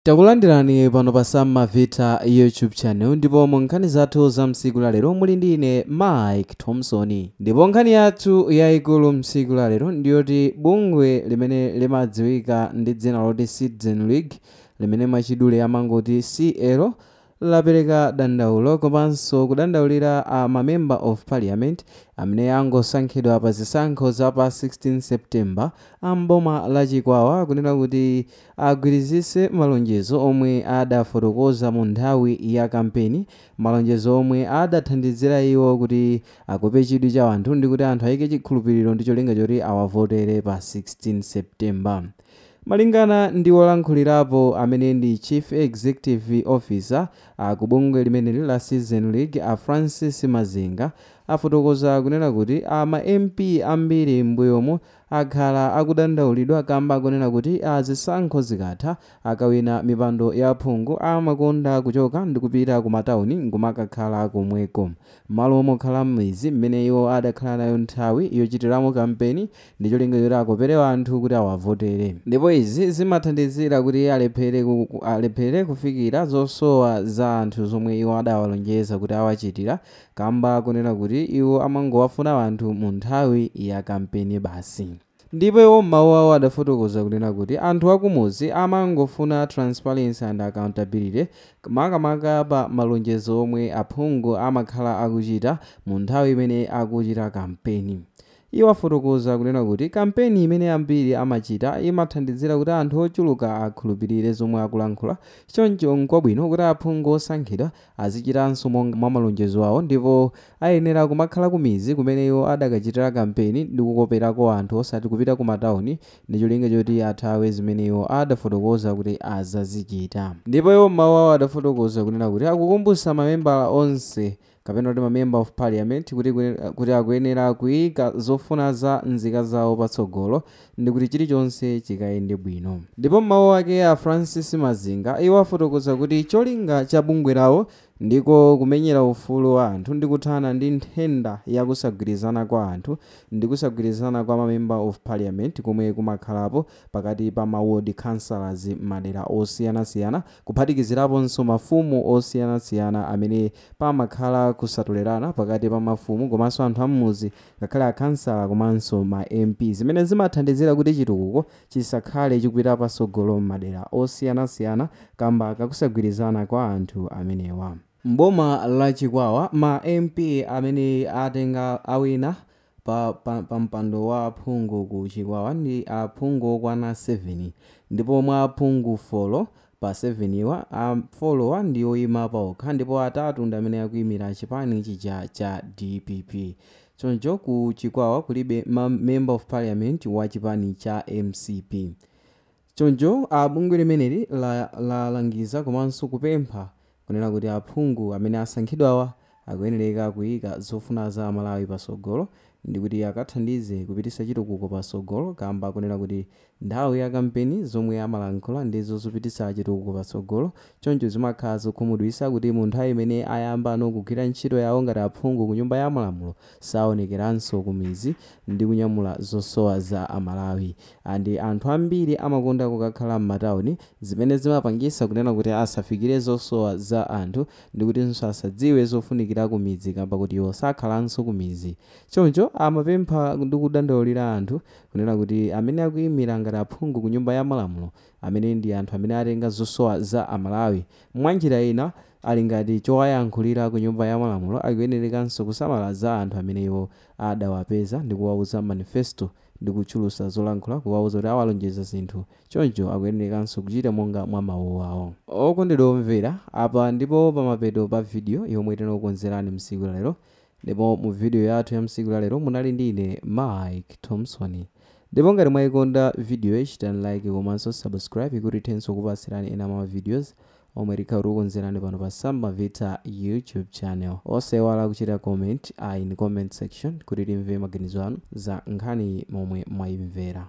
Takulandirani pano pa Sam Mavita YouTube channel ndipo mu nkhani zathu za msiku la lero muli ndi ine Mike Thompson. Ndipo nkhani yathu yayikulu msiku la lero ndiyoti bungwe limene limadziwika ndi dzina loti Citizen League limene mwachidule amangoti CL lapereka dandaulo komanso kudandaulira a ma Member of Parliament amene angosankhidwa pa zisankho za pa 16 September a m'boma la Chikwawa kunena kuti agwirizitse malonjezo omwe adafotokoza mu nthawi ya kampeni, malonjezo omwe adathandizira iwo kuti akope chidwi cha anthu ndikuti anthu ayike chikhulupiriro ndi cholinga choti awavotere pa 16 September. Malingana ndi wolankhulirapo amene ndi Chief Executive Officer a ku bungwe limeneli la Citizen League a Francis Mazinga afotokoza kunena kuti a ma MP ambiri m'mbuyomu akhala akudandaulidwa kamba kunena kuti zisankho zikatha akawina mipando ya phungu amakonda kuchoka ndikupita ku matauni nkumakakhala komweko m'malo mokhala mmidzi mmene iwo adakhala nayo nthawi yochitiramo kampeni ndi cholinga choti akopere anthu kuti awavotere ndipo izi zimathandizira kuti alephere kufikira zosowa za anthu zomwe iwo adawalonjeza kuti awachitira kamba kunena kuti iwo amangowafuna anthu mu nthawi ya kampeni basi. Ndipo iwo m'mawu awo adafotokoza kunena kuti anthu akumudzi amangofuna transparency and accountability makamaka pa malonjezo omwe aphungu amakhala akuchita mu nthawi imene akuchita kampeni Iwo afotokoza kunena kuti kampeni imene ambiri amachita imathandizira kuti anthu ochuluka akhulupirire zomwe akulankhula, choncho nkwabwino kuti aphungu osankhidwa azichitanso mwa malonjezo awo ndipo ayenera kumakhala kumidzi kumene iwo adakachitira kampeni ndi kukoperako anthu osati kupita kumatauni ndi cholinga choti athawe zimene iwo adafotokoza kuti azazichita. Ndipo iwo m'mawu awo adafotokoza kunena kuti akukumbutsa mamembala onse kapena kuti ma member of parliament kuti akuyenera kuika zofuna za nzika zawo patsogolo ndikuti chilichonse chikayende bwino. Ndipo m'mawu ake a Francis Mazinga iwo afotokoza kuti cholinga cha bungwe lawo ndiko kumenyera ufulu wa anthu ndi kuthana ndi nthenda ya kusagwirizana kwa anthu ndi kusagwirizana kwa ma member of parliament komwe kumakhalapo pakati pa ma ward councillors m'madera osiyanasiyana kuphatikiziraponso mafumu osiyanasiyana amene pamakhala kusatolerana pakati pa mafumu komanso anthu ammudzi ngakhale akhansala komanso ma MP zimene zimathandizira kuti chitukuko chisakhale chikupita patsogolo m'madera osiyanasiyana kamba kakusagwirizana kwa anthu amenewa. M'boma la Chikwawa ma MP amene atenga awina pa mpando wa aphungu ku chikwawa ndi aphungu okwana 7 ndipo mwa aphungu 4 pa 7 wa, a 4 wa ndi oyima paokha ndipo atatu ndi amene akuyimira chipani chija cha dpp choncho ku chikwawa kulibe member of parliament wa chipani cha mcp Choncho a bungwe limeneli lalangiza komanso kupempha kunena kuti aphungu amene asankhidwawa akuyenereka kuyika zofuna za amalawi pasogolo ndikuti akathandize kupititsa chitukuko pasogolo kamba konena kuti nthawi ya kampeni zomwe amalankhula ndi zozapititsa chitukuko pasogolo choncho zimakhala zokhumudwisa kuti munthawi imene ayambano kugwira ntchito yawo ngati aphungu kunyumba ya malamulo saonekeranso kumidzi ndi kunyamula zosowa za a Malawi and anthu ambiri amakonda kukakhala mmatauni zimene zimapangisa kunena kuti asafikire zosowa za anthu ndikutinso asadziwe zofunikira kumidzi kamba koti iwo sakhalanso kumidzi choncho amapempha ndi kudandaulira anthu kunena kuti amene akuimira ngati aphungu kunyumba ya malamulo amene ndi anthu amene atenga zosowa za a Malawi mwanjira ina ali ngati chowayankhulira ku nyumba ya malamulo akuyenerekanso kusamala za anthu amene iwo adawapeza ndi kuwauza manifesto ndi kuchulusa zolankhula kuwauza kuti awalonjeza zinthu choncho akuyenerekanso kuchita monga mwa mawuwawo. Okondedwa omvera, apa ndipo pamapeto pa video yomwe tinakukonzerani msiku la lero ndipo mu video yathu ya msiku la lero munali ndi ine Mike Thomson ndipo ngati mwaikonda videoyi chitani like komanso subscribe kuti tithenso kupatsirani ena mwa ma videos omwe tikhale tikukonzerani pano pa Sam'mavitsa YouTube channel. Osaiwala kuchita comment in comment section kuti timve maganizo anu za nkhaniyi momwe mwaimvera.